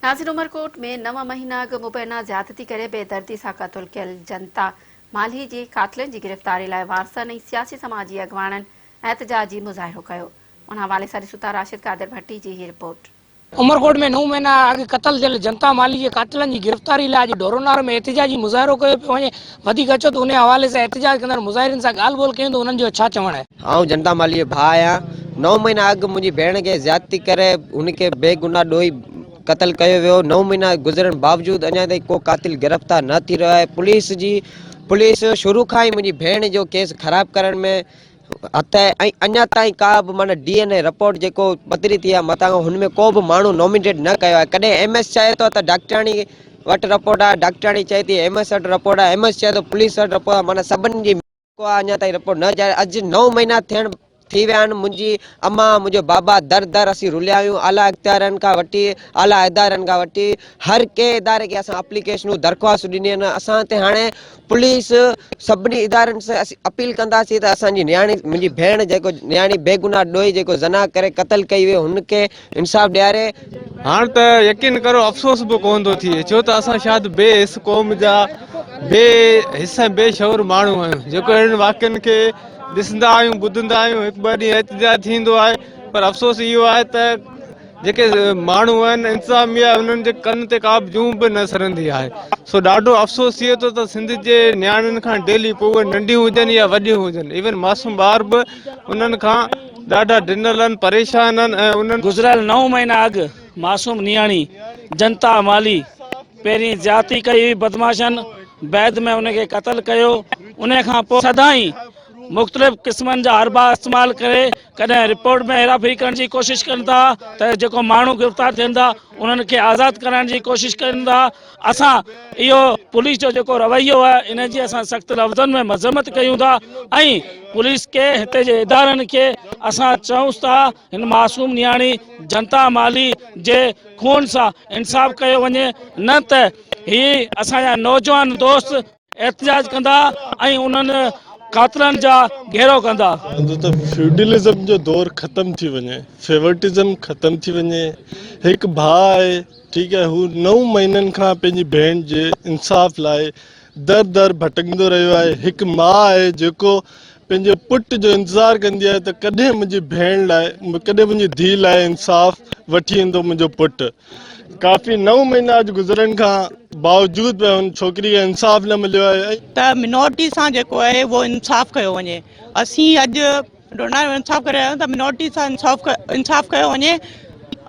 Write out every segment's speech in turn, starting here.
ناظر عمرڪوٽ ۾ نو مهينا اڳ مبينا زيادتي ڪري بي دردي سان قتل ڪيل جنتا مالهي جي قاتلن جي گرفتاري لاء وارثن ۽ سياسي سماجي اڳواڻن احتجاجي مظاهرو ڪيو ان حوالي سان ڏسون ٿا راشد قادر ڀٽي جي هي رپورٽ. عمرڪوٽ ۾ نو مهينا اڳ قتل ٿيل جنتا مالهي جي قاتلن جي گرفتاري لاء اڄ ڍورو نار ۾ احتجاجي مظاهرو ڪيو پيو وڃي وڌيڪ اچو ته انهيء حوالي سان احتجاج ڪندڙ مظاهرين سان ڳالهه ٻولهه ڪيون ته انهن جو ڇا چوڻ آهي. آئون جنتا مالهيء جو ڀاء آهيان. نو مهينا اڳ منهنجي ڀيڻ کي زيادتي ڪري هن کي بي گناهه ڏوهي قتل ڪيو ويو. نو مهينا گذرڻ باوجود اڃا تائين ڪو قاتل گرفتار نه ٿي رهيو آهي. پوليس شروع کان ئي منهنجي ڀيڻ جو ڪيس خراب ڪرڻ ۾ هٿ ۽ اڃا تائين ڪا به معنيٰ ڊي اين اي رپورٽ جيڪو پڌري ٿي آهي متان هن ۾ ڪو به ماڻهو نومينيٽ نه ڪيو آهي ڪڏهن ايم ايس چاهي ٿو ته ڊاڪٽرياڻي وٽ رپورٽ آهي ڊاڪٽرياڻي چئي ٿي ايم ايس وٽ رپورٽ آهي ايم ايس چئي ٿو پوليس وٽ رپورٽ آهي معنيٰ سڀني جي ڪو آهي اڃا تائين رپورٽ نه جاري اڄ نو مهينا ٿيڻ ٿي ويا آهن منهنجي امان منهنجو بابا در در اسين رليا آهيون اعليٰ اختيارين کان وٺي اعليٰ ادارن کان وٺي هر ڪنهن اداري کي اسان اپليڪيشنون درخواستون ڏنيون آهن اسان تي هاڻي پوليس سڀني ادارن سان اسين اپيل ڪنداسين ته اسان جي نياڻي منهنجي ڀيڻ جيڪو نياڻي بيگناهه ڏوهي جيڪو زنا ڪري قتل ڪئي وئي هن کي انصاف ڏياري هاڻ ته يقين ڪرو افسوس به ڪونه ٿو ٿئي ڇو ته اسان شايد بي حس قوم جا بي حس ۽ بي شعور ماڻهو آهيون جيڪو اهڙن واقعن کي ڏسندا آهيون ٻڌندا آهيون هڪ ٻه ڏينهن احتجاج ٿيندو آهي پر افسوس اهو آهي ته جيڪي ماڻهو آهن انتظاميا انهن جي ڪن تي ڪابه جون به نه سرندي آهي سو ڏاڍو افسوس ٿئي ٿو ته سنڌ جي نياڻين کان ڊيلي پوء اهي ننڍيون هجن يا وڏيون هجن ايون معصوم ٻار به انهن کان ڏاڍا ڊنل آهن پريشان آهن ۽ انهن گذريل نو مهينا اڳ معصوم نياڻي جنتا مالهي پهرين زيادتي ڪئي هئي بدمعاشن بعد ۾ ان کي قتل ڪيو ان کان پوء سدائين مختلف قسمن جا حربا استعمال ڪري ڪڏهن رپورٽ ۾ هيرافيري ڪرڻ جي ڪوشش ڪن ٿا ته جيڪو ماڻهو گرفتار ٿين ٿا انهن کي آزاد ڪرائڻ جي ڪوشش ڪن ٿا اسان اهو پوليس جو جيڪو رويو آهي ان جي اسان سخت لفظن ۾ مذمت ڪيون ٿا ۽ پوليس کي هتي جي ادارن کي اسان چئونس ٿا هن معصوم نياڻي جنتا مالهي جي خون سان انصاف ڪيو وڃي نه ته هي اسان جا نوجوان دوست احتجاج ڪندا ۽ انهن قاتلن جا گهيرو ڪندا. هوندو ته فيوڊلزم جو دور ختم ٿي وڃي فيورٽزم ختم ٿي وڃي هڪ ڀاء آهي ٺيڪ آهي هو نو مهينن کان پنهنجي ڀيڻ جي انصاف لاء در در ڀٽڪندو رهيو آهي هڪ ماء آهي جيڪو پنهنجي پٽ جو انتظار ڪندي آهي ته ڪڏهن منهنجي ڀيڻ لاء ڪڏهن منهنجي ڌيء لاء انصاف وٺي ايندو منهنجو پٽ ڪافي نو مهينا اڄ گذرڻ کان باوجود به هن ڇوڪري کي انصاف نه مليو آهي ته منورٽي سان جيڪو آهي اهو انصاف ڪيو وڃي اسين اڄ ڊونا جو انصاف ڪري رهيا آهيون ته منورٽي سان انصاف انصاف ڪيو وڃي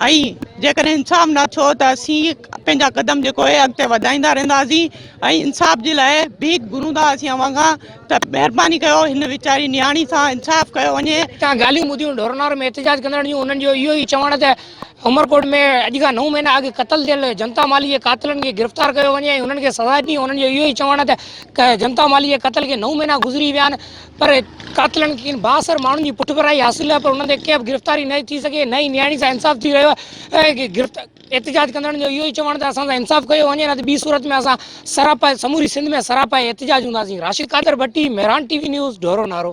۽ جيڪڏهن انصاف نه ٿيو ته اسين پنهنجا قدم جيڪو آهي اڳتي وڌائيندا رهنداسين ۽ انصاف جي لاء ڀيڪ گهرون ٿا اسين اوهان کان ته مهرباني ڪيو هن ويچاري نياڻي سان انصاف ڪيو وڃي تان ڳالهيون ٻڌيون ڍورنار ۾ احتجاج ڪندڙن جون انهن جو اهو ئي چوڻ ته عمرڪوٽ ۾ اڄ کان نو مهينا اڳ قتل ٿيل جنتا مالهي جي قاتلن کي گرفتار ڪيو وڃي ۽ انهن کي سزا ڏني انهن جو اهو ئي چوڻ آهي ته جنتا مالهي جي قتل کي نو مهينا گذري ويا آهن پر قاتلن کين بااثر ماڻهن جي پٺڀرائي حاصل آهي پر انهن تي ڪنهن به گرفتاري نه ٿي سگهي نه ئي نياڻي سان انصاف ٿي رهيو آهي احتجاج ڪندڙن جو اهو ئي چوڻ ته اسان سان انصاف ڪيو وڃي نه ته ٻي صورت ۾ اسان سراپا سموري سنڌ ۾ سراپا احتجاج هونداسين Rashid Qadir Bhatti Mehran T V news Dhoro نارو